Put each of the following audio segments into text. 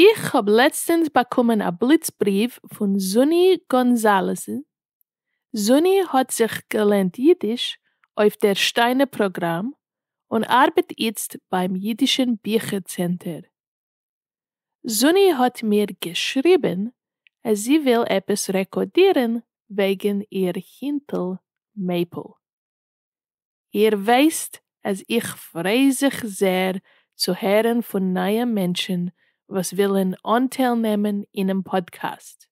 איך האב לעצטענס באקומען א בליץ בריוו פון זוני גאנזאלעז, זוני האט זיך געלערנט אידיש אויף דער שטיינער פראגראם און ארבעט איצט ביים אידישען ביכער צענטער. זוני האט מיר געשריבען אז זי וויל עפעס רעקאדירען וועגען איר הינטעל מעיפל. איר ווייסט אז איך פריי זיך זעהר צו הערן פון נייע מענטשן וואס ווילן אנטייל נעמען אינעם פאדקעסט.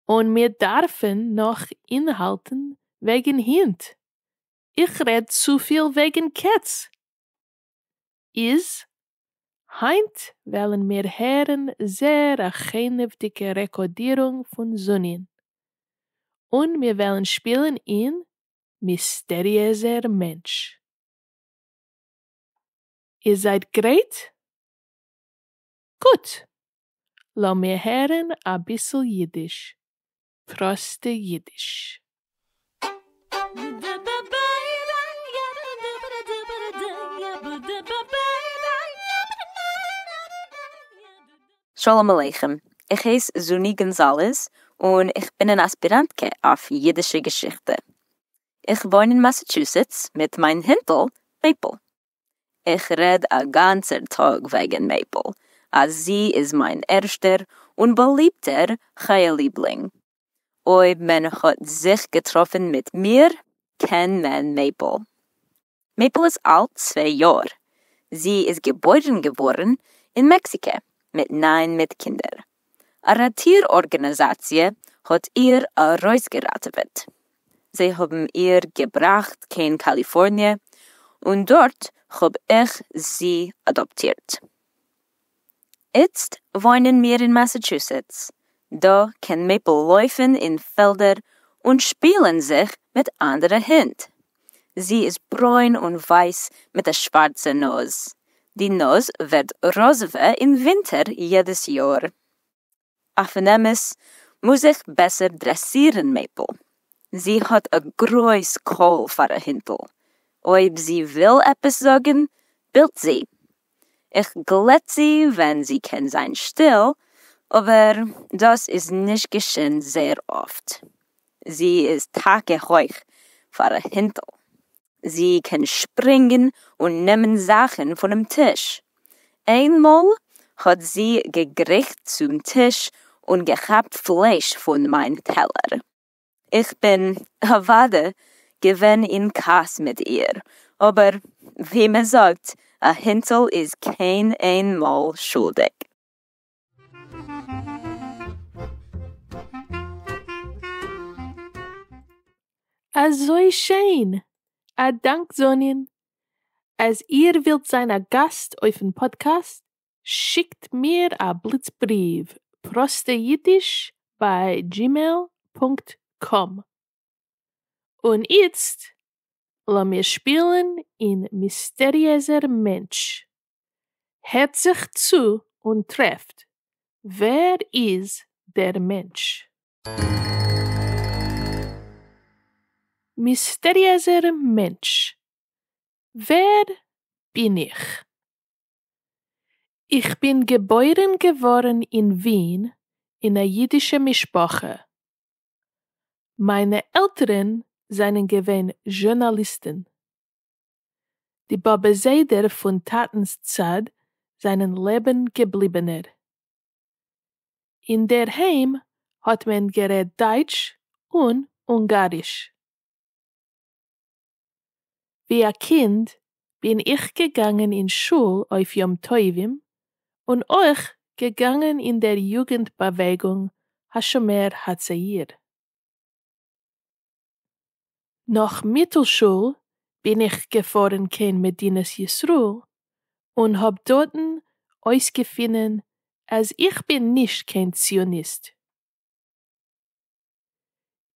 און מיר דארפן נאך אינהאלטן וועגן הינט. איך רעד צופיל וועגן קעץ! איז, היינט וועלן מיר הערן זעהר א חינוותדיגע רעקאדירונג פון זוני'ן. און מיר וועלן שפילן אין מיסטעריעזער מענטש. איר זייט גרייט? גוט! לאמיר הערן אביסל אידיש, פראסטע אידיש. שלום עליכם, איך הייס זוני גאנזאלעז און איך בין אן אספיראנטקע אויף אידישע געשיכטע. איך וואוין אין מאסעטשוסעטס מיט מיין הינטל מעיפל. איך רעד א גאנצער טאג וועגן מעיפל אז זי איז מיין ערשטער און באליבטער חיה ליבלינג. אויב מען האט זיך געטראפן מיט מיר קען מען מעיפל. מעיפל איז אלט צוויי יאר, זי איז געבוירן געווארן אין מעקסיקע מיט ניין מיט קינדער, א ראטיר ארגענעזאציע האט איר ארויסגעראטעוועט, זיי האבן איר געבראכט קיין קאליפארניע און דארט האב איך זי אדאפטירט. איצט וואוינען מיר אין מאסעטשוסעטס, דא קען מעיפל לויפן אין פעלדער און שפילן זיך מיט אנדערע הינט. זי איז ברוין און ווייס מיט א שווארצע נאז, די נאז ווערט ראזעווע אין ווינטער יעדעס יאר. אויפן אמת מוז איך בעסער דרעסירן מעיפל, זי האט א גרויס קול פאר א הינטל, אויב זי וויל עפעס זאגן בילט זי, איך גלעט זי ווען זי קען זיין שטיל, אבער דאס איז נישט געשען זייער אפט, זי איז טאקע הויך פאר א הינטל. זי קען שפרינגן און נעמען זאכן פונעם טיש. איינמאל האט זי געגריכט צום טיש און געכאפט פלייש פון מיין טעלער. איך בין אוודאי געווען אין כעס מיט איר, אבער ווי מען זאגט, א הינטל איז קיין איין מאל שולדיג. אזוי שיין! א דאנק זאנין! אז איר ווילט זיין א גאסט אויפן פאדקעסט, שיקט מיר א בליץ בריוו, פראסטע אידיש ביי דזשימעיל פונקט קאם. און איצט לאמיר שפילן אין מיסטעריעזער מענטש. הערט זיך צו און טרעפט ווער איז דער מענטש. מיסטעריעזער מענטש, ווער בין איך? איך בין געבוירן געווארן אין ווין אין א אידישע משפחה. מיינע עלטערן זענען געווען זשורנאליסטן. די באבע זיידער פון טאטנ'ס צד זענען לעבן געבליבענער. אינדערהיים האט מען גערעדט דייטש און אונגאריש. ווי א קינד בין איך געגאנגען אין שול אויף יום טובים און אויך געגאנגען אין דער יוגענט באוועגונג השומר הצעיר. נאך מיטל שול בין איך געפארן קיין מדינת ישראל און האב דארטן אויסגעפינען אז איך בין נישט קיין ציוניסט.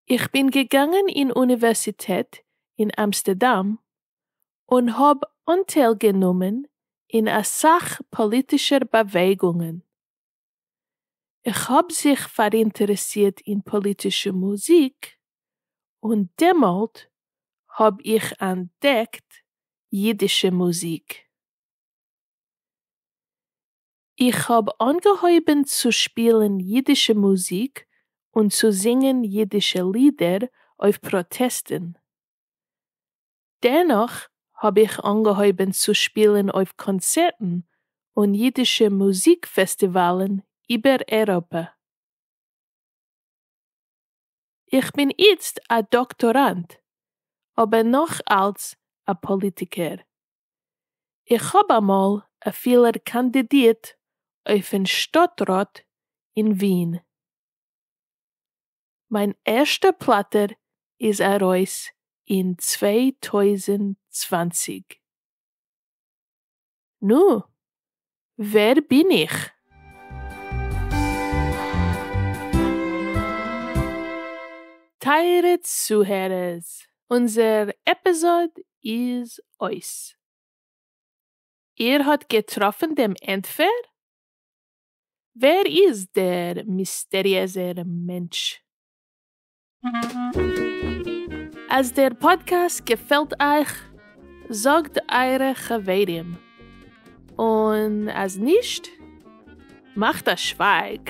איך בין געגאנגען אין אוניווערסיטעט אין אמסטערדאם און האב אנטייל גענומען אין אסאך פאליטישער באוועגונגען, איך האב זיך פאראינטערעסירט אין פאליטישע מוזיק, און דעמאלט האב איך אנטדעקט אידישע מוזיק. איך האב אנגעהויבן צו שפילן אידישע מוזיק און צו זינגען אידישע לידער אויף פראטעסטן. דערנאך האב איך אנגעהויבן צו שפילן אויף קאנצערטן און אידישע מוזיק פעסטיוואלן איבער אייראפע. איך בין איצט א דאקטאראנט, אבער נאך אלץ א פאליטיקער. איך האב אמאל אפילו קאנדידירט אויפן שטאטראט אין ווין. מיין ערשטע פלאטער איז ארויס אין צוויי טויזנט צוואַנציק. נו, ווער בין איך? טייערע צוהערערס! אונזער עפיזאד איז אויס. איר האט געטראפן דעם ענטפער? ווער איז דער מיסטעריעזער מענטש? אז דער פאדקעסט געפעלט אייך, זאגט אייערע חברים, און אז נישט, מאכט א שווייג.